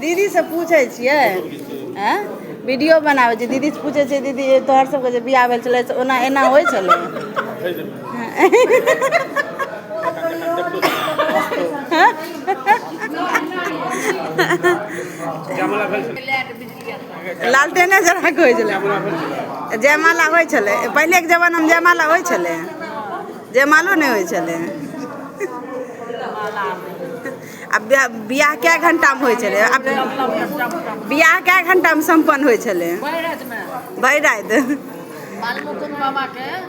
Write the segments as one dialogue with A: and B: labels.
A: दीदीसँ पूछै छियै आँय वीडियो बनाबै छियै दीदीसँ पूछै छियै दीदी तोहर सबके जे बियाह भेल छलै से ओना एना होइ छलै लालटेने जरा होइ छलै जयमाला होइ छलै पहिलेके जमानामे जयमाला होइ छलै जयमालो नहि होइ छलै आ ब्याह बियाह कए घंटामे होइ छलै आ बियाह कए घंटामे सम्पन्न होइ छलै भरि राति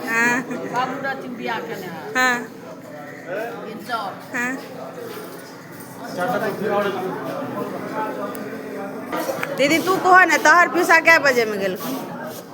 A: हँ हँ हँ दीदी तू कह ने तोहर पिसा कए बजेमे गेलखुन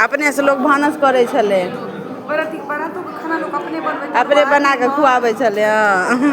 A: अपने से लोग भानस करै छलै अपने बना कऽ खुआबै छलै हँ